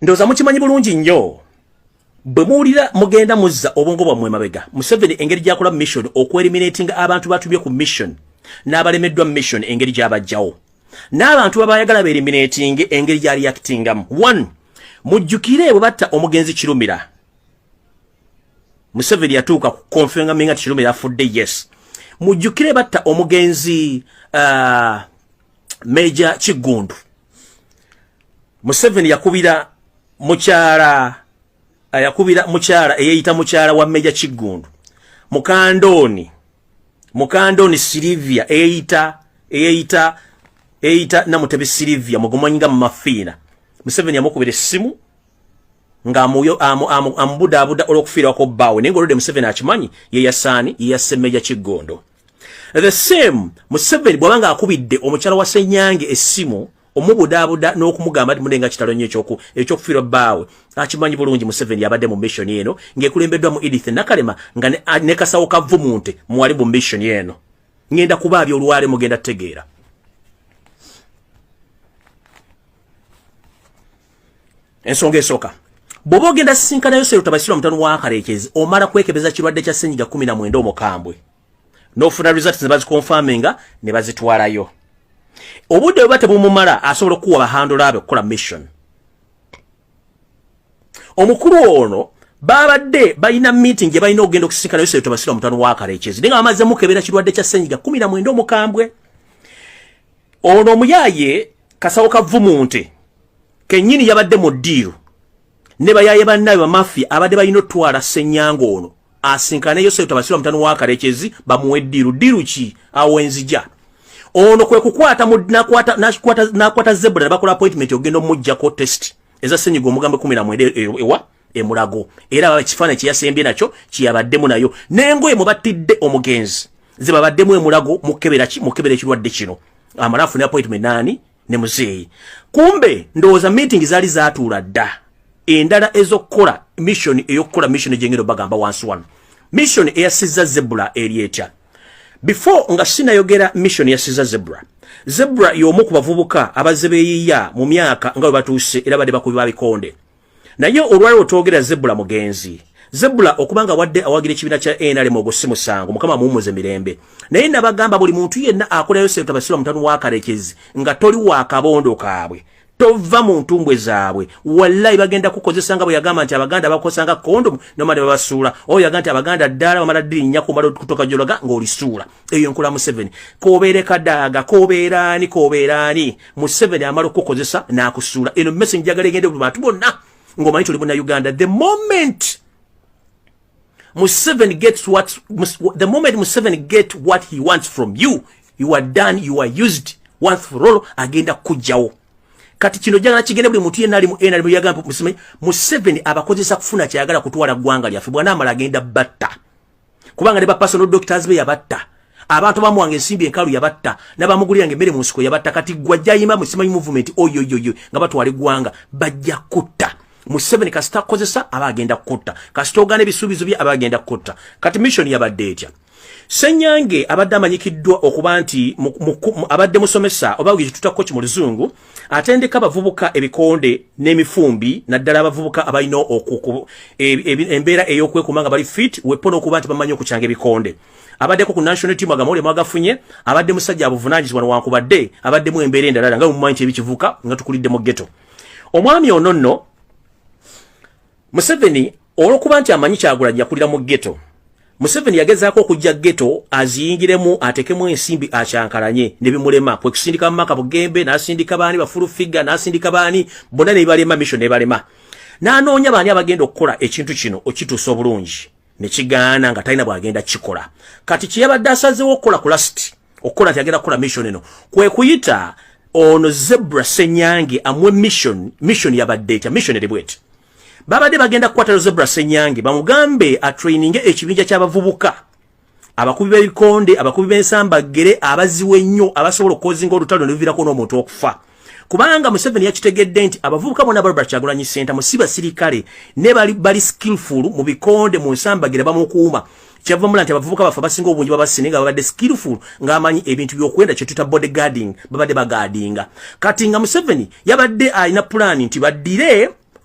ndoza mukimanyi bulungi nnyo bwe muwulira mugenda muzza obwongo bwammwe mabega museveni engeri gyakola mission okuelimiratinga abantu batumye ku mission n'abalemeddwa mission engeri gyabajjawo n'abantu babayagala beelimiratinge engeri gyali yakitingamu one mujjukire bwe batta omugenzi kirumira museveni yatuuka ku konfengami nga tikirumira afudde yes mujjukire batta omugenzi uh, meja kiggundu museveni yakubira mukyala yakubira mukyala eyeyita mukyala wa meja kiggundu mukandooni mukandooni silivia eyeyita eyeyita eyita namutebi silivia mugumanyinga mumafiina museveni yamukubira essimu nga amubudaabuda olwokufiirako bbaawe naye nga olwedde museveni akimanyi yeyasaani yeyasse meja kiggondo The same Museveni bwabanga akubidde omukyala wa Senyange essimu omubudaabuda n'okumugamba nti mudenga kitalo nnyo ekyoku ekyokufiirwa bbaawe akimanyi bulungi Museveni yabadde mu mission eno ng'ekulembeddwa mu Edith Nakalema nga ne, ne kasawo kavvu munte mwali mu mission eno ngenda kuba abyo olwale mugenda tegeera ensonga esooka bw'oba ogenda sisinkana yoseero tabasirwa mutano wa kareekezi omala kwekebeza kirwadde kya senyiga kumi na mwenda omukambwe n'ofuna results ne bazikonfaminga ne bazitwalayo obudde bweba tebumumala asobola okukuwa bahandula be okukola mission omukulu ono babadde balina meeting gye balina okugenda okusisinkana yoseero tabasirwa mutano wa kareekezi naye nga bamaze mukebera kirwadde kya senyiga kumi na mwenda omukambwe Ono omuyaye kasawo kavumunte kenyini yabadde mu ddiiro ne bayaye bannaye bamafi abadde balina otwala ssenyanga ono asinkane yosefu tabasirwa mutano wakarekyezi bamuwe ddiiru ddiiru ki awo enzija ono kwe kukwata nakwata zebula ne bakola appointment ogenda omujjako test eza senyiga omugambo ekumi namwenda e, e, ewa emulago era baba ekifaananyi kyeyasembye nakyo kyeyabaddemu nayo nengoye mubattidde omugenzi zebabaddemu emulago mukebera ki mukebera ekirwadde kino amala afune appointment naani ne muzeeyi kumbe ndowooza meeting zaali zatuula dda endala ezokukola mission eyokukola mission egyengendo bagamba wansi wano mission eyasizza zebula eri etya before nga sinayogera mission yasiza zebra zebra yomu ku bavubuka abazze beyiya mu myaka nga bwe batuuse era badde bakubi babikonde naye olwaliro twogera zebula mugenzi zebula okuba nga wadde awagira ekibiina kya nrm ogwo si musango mukama amuwumuze mirembe naye nabagamba buli muntu yenna akolayo sente abasirwa mutano wakarekezi nga toli wakabondo kaabwe tova mu ntumbwe zaabwe wallayi bagenda kukozesa nga bwe yagamba nti abaganda bakosanga kondomu nomale babasuula oyo yagamba nti abaganda ddala bamala dirinya kumala okutoka gyolaga ng'olisuula eyo nkula museveni kobeere kadaaga kobeera ani kobeera ani museveni amala okukukozesa n'akusuula eno message njagala egende buli bantu bonna ng'omanyi tuli buna uganda the moment museveni gets what the moment museveni get what he wants from you you are done you are used once for all agenda kujjawo kati kino jagala kigende buli muntu yenali mu nrm yagamba museveni abakozesa kufuna kyayagala kutwala ggwanga lyaffe bwanamala agenda batta kubanga ne ba personal doctors be yabatta abantu bamuwanga ensimbi enkalu yabatta nabamuguliranga emmere mu nsiko yabatta kati gwa jayima musimanyi movement oyoyoyo nga batwala eggwanga bajja kutta museveni kasita kozesa aba agenda kutta kasita ogana ebisuubizo bye aba agenda kutta kati mission yabadde etya senyange abadde amanyikiddwa okuba nti abadde musomesa oba gye tutako ki mu luzungu atendeka abavubuka ebikonde n'emifumbi naddala abavubuka abalina e, e, embeera ey'okwekuuma nga bali fit wepo n'okuba nti bamanyi okukyanga ebikonde abaddeko ku national team agamawulire mwagafunye abadde musajja abuvunanyizibwa newankubadde abaddemu embeera endalala nga mumanyi kyebikivuka nga tukulidde mu geto omwami ono nno Museveni olwokuba nti amanyi kyagulanyi yakulira mu ghetto Museveni yagezaako okujja ghetto aziyingiremu atekemu ensimbi akyankalanye ne bimulema kwe kusindika maka bugembe n'asindika baani bafulu figure n'asindika baani bonna ne balema mission ne balema n'anoonya baani abagenda okukola ekintu kino okituusa obulungi ne kigaana nga talina bw'agenda kikola kati kye yabadde asazeewo okukola ku lasiti okukola nti agenda kukola mission eno kwe kuyita ono zebra senyange amwe mission mission yabadde etya mission eri bweti babadde bagenda kukwatalo zebra senyange bamugambe atraininge ekibinja ky'abavubuka abakubi b'ebikonde abakubi b'ensambaggere abaziwe ennyo abasobola okukozinga olutalo ne luviirako n'omuntu okufa kubanga Museveni yakitegedde nti abavubuka bona Barbara Kyagulanyi Ssentamu si basirikale ne bali bali skillful mu bikonde mu nsambagira bamukuuma kyava mula nti abavubuka bafa basinga obungi babasine nga babadde skillful ng'amanyi ebintu by'okwenda kye tuta body guarding babadde bagaadinga kati nga Museveni yabadde alina pulaani nti baddire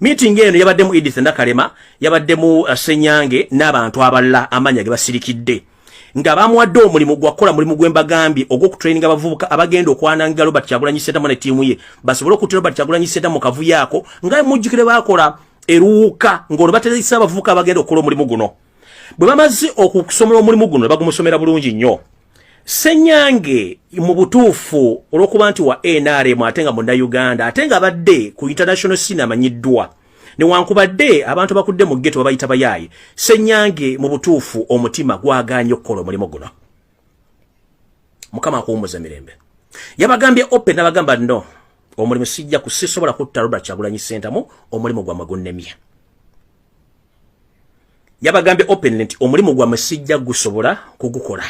Meeting eno yabaddemu Edith Nakalema, yabaddemu uh, Senyange n'abantu abalala amanya ge basirikidde nga bamuwadde omulimu gwakola mulimu gwembagambye ogwokutraininga abavubuka abagenda okwananga Robert Kyagulanyi Ssentamu ne tiimu ye basobole okuttira Robert Kyagulanyi Ssentamu kavuyo ako nga mujjukire baakola eruwuka ng'olwo bateresa abavubuka abagenda okukola omulimu guno bwe bamaze okusomola omulimu guno ne bagumusomera bulungi nnyo Senyange mu butuufu olwokuba nti wa NRM ate nga munda Uganda ate nga abadde ku international scene amanyiddwa newankubadde abantu bakudde mu ghetto babayita bayaaye Senyange mu butuufu omutima gwagaanye okukola omulimu guno mukama akuwumuza mirembe yabagambye open nabagamba no omulimu sijja kusisobola kutta Robert Kyagulanyi Sentamu omulimu gwa magunnemye yabagambye openly nti omulimu gwammwe sijja gusobola kugukola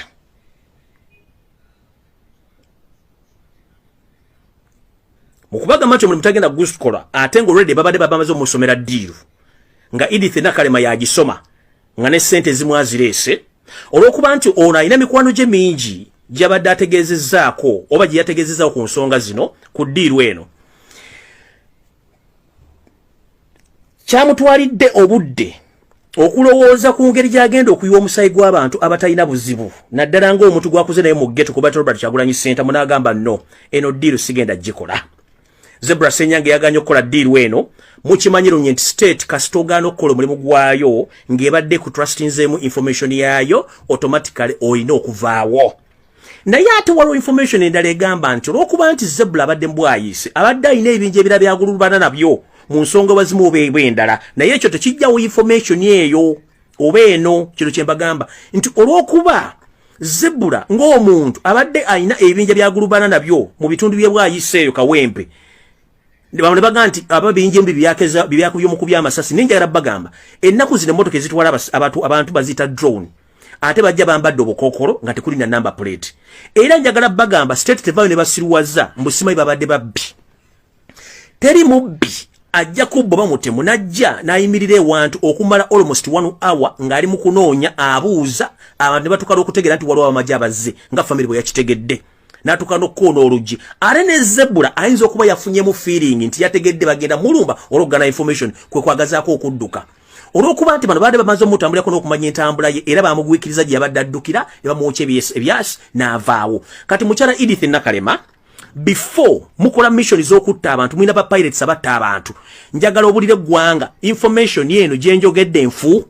mukubagamba nti omulimu tagenda gukola ate nga olwedde babadde babamaze omusomera diiru nga edith nakalema yagisoma nga ne sente ezimu azireese olwokuba nti ono alina mikwano gye mingi gyabadde ategeezezaako oba gye yategeezezaako ku nsonga zino ku diiru eno kyamutwalidde obudde okulowooza ku ngeri gy'agenda okuyiwa omusaayi gw'abantu abatalina buzibu naddala ng'omuntu gwakuze naye mu geto kuba robert kyagulanyi senta munaagamba no eno diiru sigenda gikola zebra senyange yaganye okukola diiru eno mukimanyi lunye nti state kasita ogaana okukola omulimu gwayo ng'ebadde ku trustinzeemu information yaayo automatically olina okuvaawo naye ate waliwo information endala egamba nti olwokuba nti zebula abadde mbwayiise abadde alina ebinja ebira byagululubana nabyo mu nsonga bazimu oba ebwe endala naye ekyo tekijjawo information eyo oba eno kino kyembagamba nti olwokuba zebula ng'omuntu abadde alina ebinja byagulubana nabyo mu bitundu byebwayise eyo kawempe bamwe baga nti aba binje mbi byakeza byakubye mu kubya amasasi ninja era bagamba ennaku zino motoka ezitwala abantu abantu bazita drone ate bajja bambadde obukokolo nga tekuli na number plate era njagala bagamba state tevayo ne basiruwaza mbu simayi babadde babbi teri mubbi ajja kubba bamutemu najja nayimirira ewantu okumala almost one hour ng'ali mu kunoonya abuuza abantu ne batuukala okutegeera nti waliwo abamagye abazze nga famire bwe yakitegedde natuka nokukoona oluggi ate ne zebula ayinza okuba yafunyemu feeling nti yategedde bagenda mulumba olwokugana information kwe kwagazaako okudduka olwokuba nti bano baadde bamaze omutambulirako n'okumanya entambula ye era bamugwikiriza gye yabadde addukira ne bamuwokya ebyasi n'avaawo kati mukyala edith nakalema before mukola mission z'okutta abantu mulina ba pirates abatta abantu njagala obulire eggwanga information eno gye njogedde nfu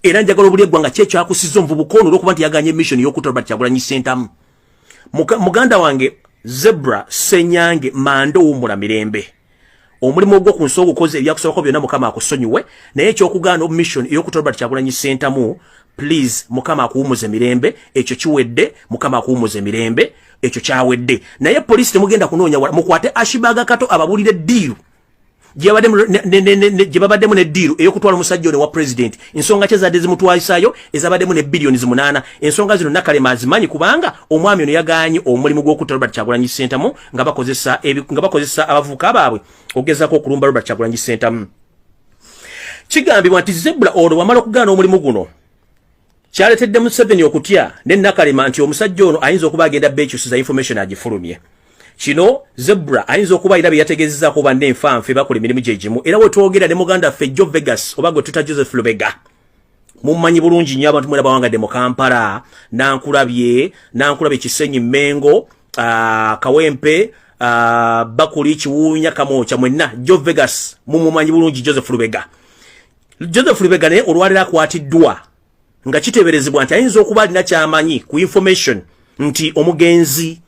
era njagala obuli eggwanga kye kyakusiza omuvubuka ono olwokuba nti yaganye mission y'okutta robert kyagulanyi sentamu muganda wange zebra senyange manda owummula mirembe omulimu ogwo ku nsi ogukoze ebyakusobako byonna mukama akusonyiwe naye ekyokugaana omission ey'okutta robert kyagulanyi sentamu please mukama akuwumuze mirembe ekyo kiwedde mukama akuwumuze mirembe ekyo kyawedde naye polisi temugenda kunoonya wala mukwate ashibaga kato ababulire diiru gyebabaddemu ne diiru eyokutwala omusajja ono wa pulezidenti ensonga kye zadde zimutwalisayo ezabaddemu ne biliyoni zimunaana ensonga zino nakalema azimanyi kubanga omwami ono yaganye omulimu gw'okutta robert kyagulanyi sentamu nga bakozesa abavubuka baabwe okugezako okulumba robert kyagulanyi sentamu kigambibwa nti zebula ono wamala okugaana omulimu guno kyaletedde Museveni okutya ne Nakalema nti omusajja ono ayinza okuba agenda beekyusiza information agifulumye kino zebra ayinza okuba era byeyategezezaako banne enfanfe bakola emirimu gye gimu era wetwogera ne muganda ffe jo vegas oba gwe tuta joseph lubega mummanyi bulungi nnyo abantu mwena bawangadde mu kampala nankulabye nankulabye kisenyi mengo ah, kawempe ah, bakuli kiwuunya kamwokya mwenna jo vegas mumumanyi bulungi joseph lubega Joseph Lubega naye olwaliro akwatiddwa nga kiteeberezebwa nti ayinza okuba alina kyamanyi ku information nti omugenzi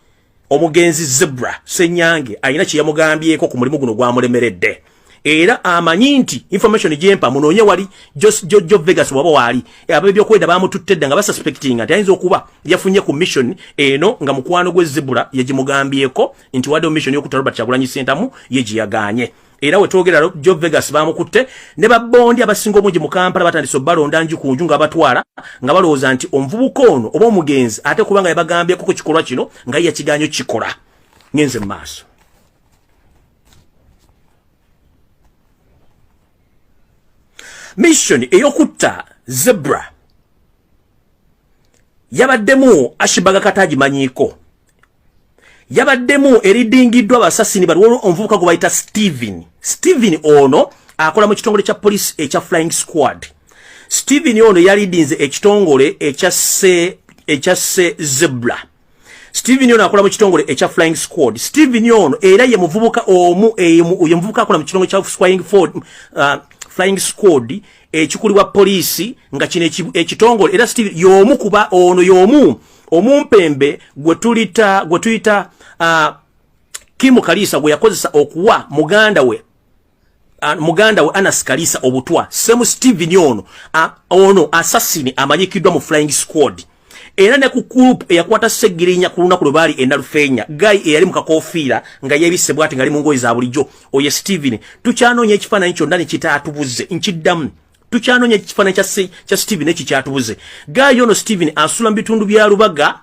omugenzi Zebra Senyange alina kye yamugambyeko ku mulimu guno gwamulemeredde era amanyi nti information gyempa munoonye wali Jojo Vegas waba waali ab'ebyokwenda baamututte dda nga basuspectinga nti ayinza okuba yafunye ku mission eno nga mukwano gwe Zebra yagimugambyeko nti wadde mission y'okutta Robert Kyagulanyi Ssentamu ye gye yagaanye era wetwogera lero job vegas bamukutte ne babondi abasinga omungi mu kampala batandise obalonda nju ku nju nga batwala nga balowooza nti omuvubuka ono oba omugenzi ate kubanga yabagambyeko ku kikolwa kino nga ye yakiganyo kikola ngenze mu maaso mission eyokutta zebra yabaddemu ashibaga kata agimanyiiko yabaddemu eridingiddwa basasini bali waliwo omuvubuka gwe bayita steven steven ono akola mu kitongole kya poliisi ekya flying squad steven ono yalidinze ekitongole ekyasse zebra steven ono akola mu kitongole ekya flying squad steven ono era ye muvubuka omu ye muvubuka akola mu kitongole kya flying ford uh, flying squad ekikulibwa poliisi nga kino ekitongole era steven yomu kuba ono yomu omumpembe gwe tulita gwe tuyita uh, Kimu Kalisa gwe yakozesa okuwa muganda we uh, muganda we Anas Kalisa obutwa Semu Steven ono uh, ono assassin amanyikiddwa mu flying squad era ne ku group eyakwata segirinya ku lunaku lwe baali enalufeenya guy eyali mu kakofiira nga yebisse bwati ngali mu ngoye za bulijjo oye Steven tukyanoonya ekifaananyi kyonna ne kitaatubuze nkiddamu tukyanoonya ekifaananyi kya steven ekyo kyatubuze gaayo ono steven asula mu bitundu bya lubaga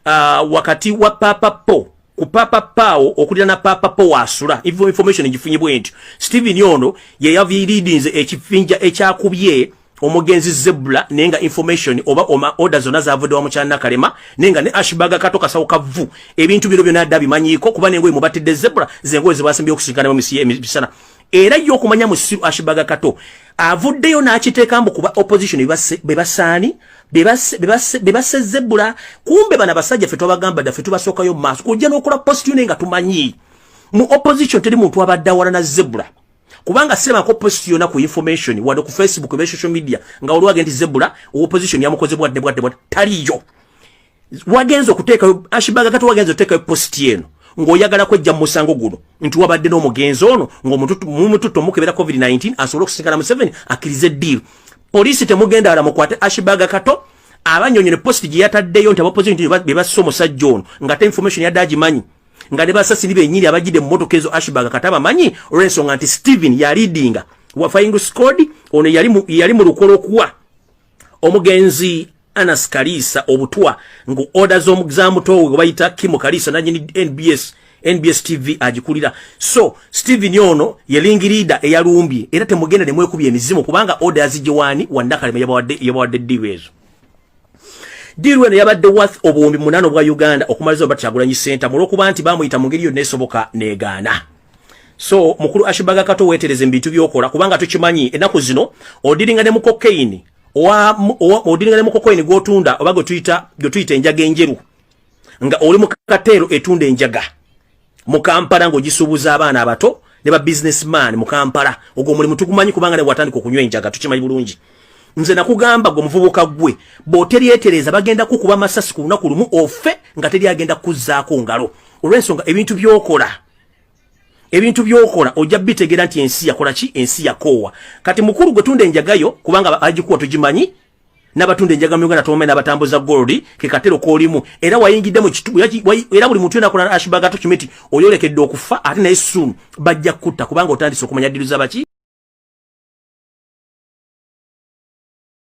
uh, wakati wa papa po ku papa pao okulira na papa po wasula information egifunye bwentyo steven ono yeyaviridinze ekifinja ekyakubye omugenzi zebula naye nga information oba oma order zona zavuddewa mukyanakalema naye nga ne ashbaga kato kasawo kavu ebintu bino byona dda bimanyiiko kuba nengoye mubatidde zebula zengoye zebasimbye okusinkana mu misiya emisana era yo okumanya musiru ashibaga kato avuddeyo n'akiteeka mbu kuba opposition bebasaani bebasse zebbula kumbe bana basajja fe twabagamba dda fe tubasookayo maaso kujja n'okola positione nga tumanyi mu opposition teri muntu abadde awalana zebbula kubanga sirabako post yona ku information wadde ku facebook ebe social media nga olwage nti zebbula opposition yamukozebwa dde bwadde bwadde taliyo wagenze okuteekayo ashibaga kati wagenze okuteekayo positi eno ng'oyagala kwejja mu musango guno nti wabadde n'omugenzi ono ng'omututto mukebera covid-19 asobole okusisinkana museveni akkirize eddiiru poliisi temugenda ala mukwate ashibaga kato abanyonyo ne positi gye yataddeyo nti abapoziti be bassa omusajja ono ngate information yadde agimanyi nga ne basasiri benyini abajjidde mu motoka ezo ashibaga kata bamanyi olw'ensonga nti steven yaliidinga wafaying squad ono yali mu lukolo okuwa omugenzi Anas Kalisa obutwa ngu order z'omu za mutowe gwe bayita Kimo Kalisa nanyini NBS NBS TV agikulira so Steven ono ye ling leader eyalumbye era temugenda ne mwekubye emizimu kubanga order yazije wani wandakalema yabawadde yabawadde deal ezo Diru eno yabadde worth obuwumbi munano bwa Uganda okumaliza obatagulanyi center mulokuba nti bamuyita mu ngeri yo nesoboka negaana so mukulu ashibaga kato wetereze mbintu byokola kubanga tukimanyi enaku zino odiringa ne mukokaini owa odiringa ne mukokaini gotunda obago tuita gyo tuita enjaga enjeru nga oli mu katero etunda enjaga mu Kampala ngo gisubuza abana abato ne ba businessman mu Kampala ogwo muli mutukumanyi kubanga ne watandika okunywa enjaga tukimanyi bulungi nze nakugamba gwo muvubuka gwe boteri etereza bagenda kukuba masasi ku lunaku lumu ofe nga teri agenda kuzzaako ngalo olwensonga ebintu byokola ebintu byokola ojja bitegera nti ensi yakola ki ensi yakoowa kati mukulu gwe tunda enjagayo kubanga agikuwa tugimanyi nabatunda enjaga mu Uganda tumanyi nabatambuza gold ke katero kolimu era wayingidde mu kitubu era buli muntu yenakola ashbaga to kimiti oyolekedde okufa ate naye soon bajja kutta kubanga otandise okumanya diru za baki